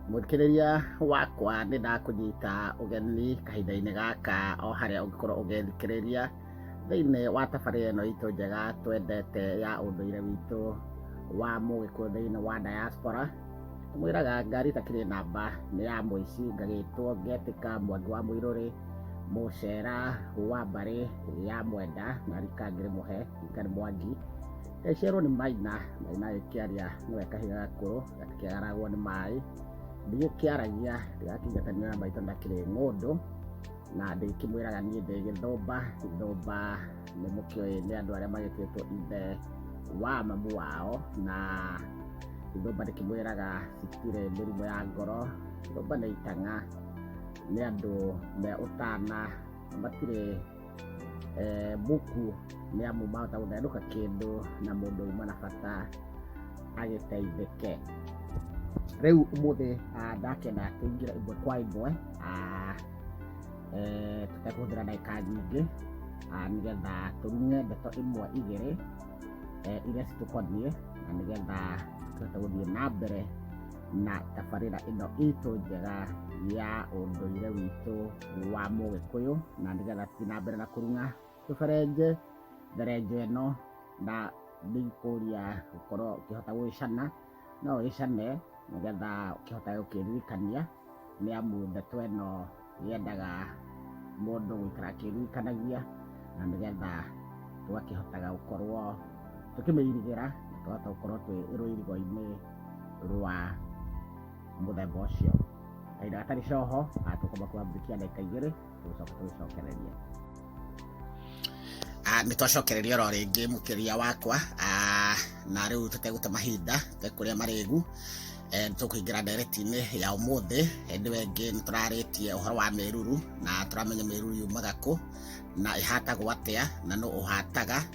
mũthikĩrĩria wakwa nĩ ndakũnyita ũgeni kahinda-inĩ gaka o harĩa ũngĩkorwo ũgĩthikĩrĩria thĩinĩ wa tabarĩra ĩno itũ njega twendete ya ũndũire witũ wa mũgĩkũyũ thĩinĩ wa diaspora mwĩraga ngari itakĩrĩ namba nĩ ya mũici ngagĩtwo ngetĩka mwangi wa mũirũrĩ mũcera wa mbarĩ ya mwenda na rika ngĩrĩ mũhe rika nĩ mwangi Yaciarwo nĩ Maina, Maina agĩkĩaria nĩwe kahiga gakũrũ gakĩaragwo nĩ maĩ, ndigĩkĩaragia ndĩrakinya kanua na maitho ndakĩrĩ ng'ũndũ, na ndĩkĩmwĩraga niĩ ndĩ gĩthũmba, gĩthũmba nĩ mũkĩũĩ nĩ andũ arĩa magĩtuĩtwo ithe wa mamu wao, na gĩthũmba ndĩkĩmwĩraga citirĩ mĩrimũ ya ngoro, gĩthũmba nĩ itang'a, nĩ andũ me ũtana, matirĩ e, buku nĩ amu mahota gũthandũka kĩndũ na mũndũ uma na bata agĩteithĩke rĩu ũmũthĩ ah, ndakena kũingĩra imwe kwa imwe ah, eh, tũtekũhũthĩra ndagĩka nyingĩ ah, nĩgetha tũrunye ndeto imwe igĩrĩ eh, iria citũkoniĩ na nĩgetha tũhote gũthiĩ na mbere na tabarĩra ĩno itũ njega ya ũndũire witũ wa mũgĩkũyũ na nĩgetha tũthiĩ na mbere na kũruga tũberenje therenjo ĩno na ndingĩkũria gũkorwo ũkĩhota gũgĩcana no ũgĩcane nĩgetha ũkĩhota gũkĩririkania nĩ amu ndeto ĩno yendaga mũndũ gũikara akĩririkanagia na nĩgetha tũgakĩhotaga gũkorwo tũkĩmĩirigĩra na tũkahota gũkorwo twĩ rũirigo-inĩ rwa mũthemba ũcio kahinda gatarĩ coho ah, tũkũmba kwambĩkia ndagĩka igĩrĩ tũgũcoka tũgĩcokereria Ah, nĩ twacokereria oro rĩngĩ mũkĩria wakwa ah, na rĩu tũtegũte mahinda tekũrĩa marĩgu eh, nĩ tũkũingĩra ndereti-inĩ ya ũmũthĩ hĩndĩ ĩyo ĩngĩ nĩ tũrarĩtie ũhoro wa mĩruru na tũramenya mĩruru yumaga kũ na ĩhatagwo atĩa na nũ ũhataga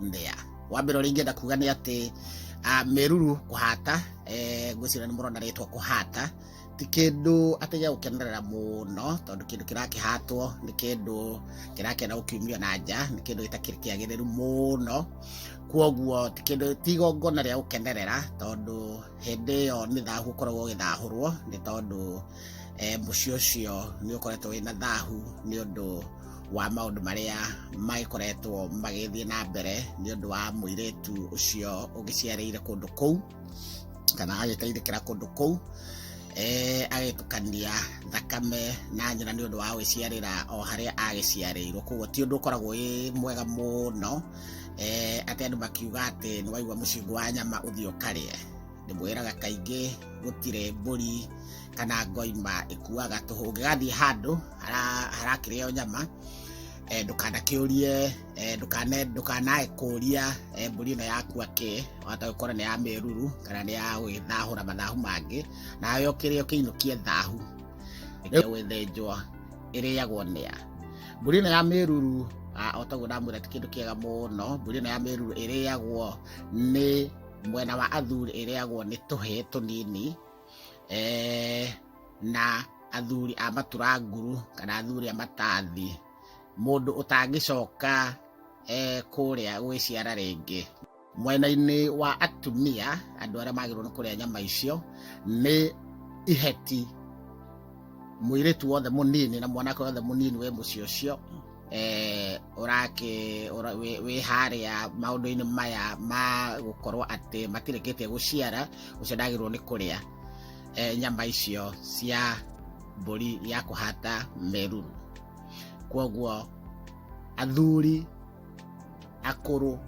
mbea wa mbere ũrĩa ingĩenda kuga nĩ atĩ ah, meruru kũhata eh, ngwĩciria nĩ mũrona rĩtwa kũhata ti kĩndũ atĩ gĩa gũkenerera mũno tondũ kĩndũ kĩrakĩhatwo nĩ kĩndũ kĩrakĩenda gũkiumio na nja nĩ kĩndũ gĩtakĩrĩ kĩagĩrĩru mũno kuoguo ti kĩndũ ti igongona rĩa gũkenerera tondũ hĩndĩ ĩyo nĩ thahu ũkoragwo ũgĩthahũrwo nĩ tondũ eh, mũciĩ ũcio nĩ ũkoretwo wĩna thahu nĩ ũndũ wa maũndũ marĩa magĩkoretwo magĩthiĩ na mbere nĩ ũndũ wa mũirĩtu ũcio ũgĩciarĩire kũndũ kũu kana agĩteithĩkĩra kũndũ kũu eh, agĩtukania thakame na nyina nĩ ũndũ wa gwĩciarĩra o harĩa agĩciarĩirwo koguo ti ũndũ ũkoragwo wĩ mwega mũno eh, atĩ andũ makiuga atĩ nĩ waigua mũcingo wa nyama ũthiĩ ũkarĩe ndĩmwĩraga kaingĩ gũtirĩ mbũri kana ngoima ĩkuaga tũhũ ũngĩgathiĩ handũ hara- harakĩrĩo nyama eh, ndũkanakĩũrie eh, ndũkane- ndũkanae kũria eh, mbũri ĩno yakua kĩ wahota gũkorwo nĩ ya mĩruru kana nĩ ya gwĩthahũra mathahu mangĩ nawe ũkĩrĩa ũkĩinũkie thahu ĩkĩrĩa gwĩthĩnjwo ĩrĩagwo nĩa mbũri ĩno ya mĩruru ah, o taguo ndamwĩra ti kĩndũ kĩega mũno mbũri ĩno ya mĩruru ĩrĩagwo nĩ mwena wa athuri ĩrĩagwo nĩ tũhĩĩ tũnini eh, na athuri a matura nguru kana athuri a matathi mũndũ ũtangĩcoka eh, kũrĩa gwĩciara rĩngĩ mwena-inĩ wa atumia andũ arĩa magĩrĩirwo nĩ kũrĩa nyama icio nĩ iheti mũirĩtu wothe mũnini na mwanake wothe mũnini wĩ mũciĩ ũcio eh, ũrake ũra- wĩ- wĩ harĩa maũndũ-inĩ maya ma gũkorwo atĩ matirĩkĩtie gũciara ũcio ndagĩrĩirwo nĩ kũrĩa eh, nyama icio cia mbũri ya kũhata meruru kwoguo athuri akũrũ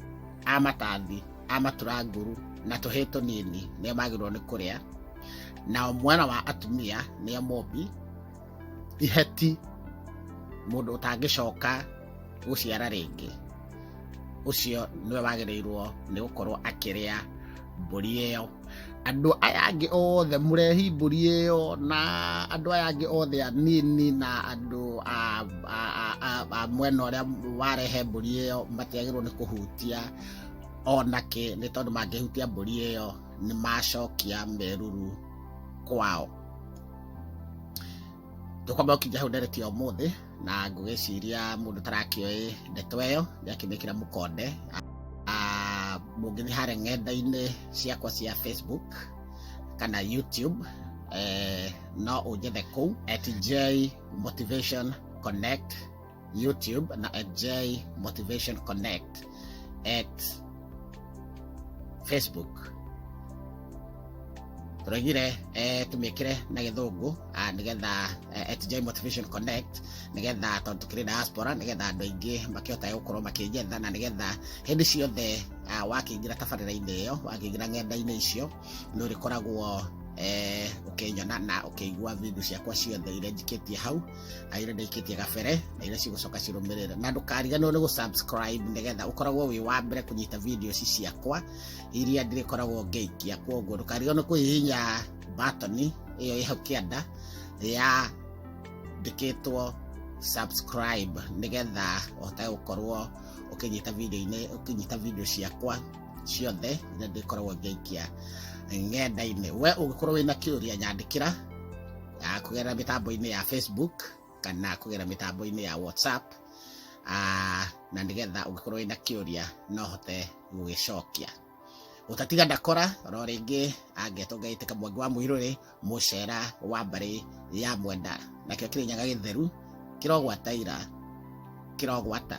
a matathi a maturanguru na tũhĩ tũnini nĩo magĩrĩirwo nĩ kũrĩa nao mwana wa atumia nĩo mũmbi iheti mũndũ ũtangĩcoka gũciara rĩngĩ ũcio nĩwe wagĩrĩirwo nĩ gũkorwo akĩrĩa mbũri ĩyo andũ aya angĩ othe mũrehi mbũri ĩyo na andũ aya angĩ othe anini na andũ a mwena ũrĩa warehe mbũri ĩyo matiagĩrwo nĩ kũhutia onake nĩ tondũ mangĩhutia mbũri ĩyo nĩ macokia meruru kwao tũkwamba gũkinya hau ndereti ya ũmũthĩ na ngũgĩciria mũndũ tarakĩoĩ ndeto ĩyo nĩakĩmĩkĩra mũkonde Ah, mũngĩthiĩ harĩa ng'enda-inĩ ciakwa cia facebook kana youtube eh, no ũnjethe kũu at j motivation connect YouTube na at J Motivation Connect at Facebook tũraigire eh, tũmĩkĩre na gĩthũngũ ah, nĩgetha eh, at J Motivation Connect nĩgetha tondũ tũkĩrĩ diaspora nĩgetha andũ aingĩ makĩhota gũkorwo makĩnjetha na nĩgetha hĩndĩ ciothe ah, wakĩingĩra tabarĩra-inĩ ĩyo wakĩingĩra ng'enda-inĩ icio nĩ ũrĩkoragwo eh, ũkĩnyona na ũkĩigua video ciakwa ciothe iria njikĩtie hau aire ndaikitie gabere na iria cigucoka cirumirire na ndukariganirwo ni gu subscribe nigetha ukoragwo wi wa mbere kunyita video ici ciakwa iria ndirikoragwo ngeikia koguo ndukariganirwo kuhihinya button iyo ĩ hau kĩanda ya ndĩkĩtwo subscribe nigetha ũhote gũkorwo ũkĩnyita video-inĩ ũkĩnyita video ciakwa ciothe iria ndĩkoragwo ngĩikia ng'enda-inĩ we ũngĩkorwo wĩna kĩũria nyandĩkĩra ah, kũgerera mĩtambo-inĩ ya facebook kana kũgerera mĩtambo-inĩ ya whatsapp ah, na nĩgetha ũngĩkorwo wĩna kĩũria no hote gũgĩcokia ũtatiga ndakora ro rĩngĩ angetwo ngaitĩka mwangi wa mũirũrĩ mũcera wa mbarĩ ya mwenda nakĩo kĩrĩnyaga gĩtheru kĩrogwataira kĩrogwata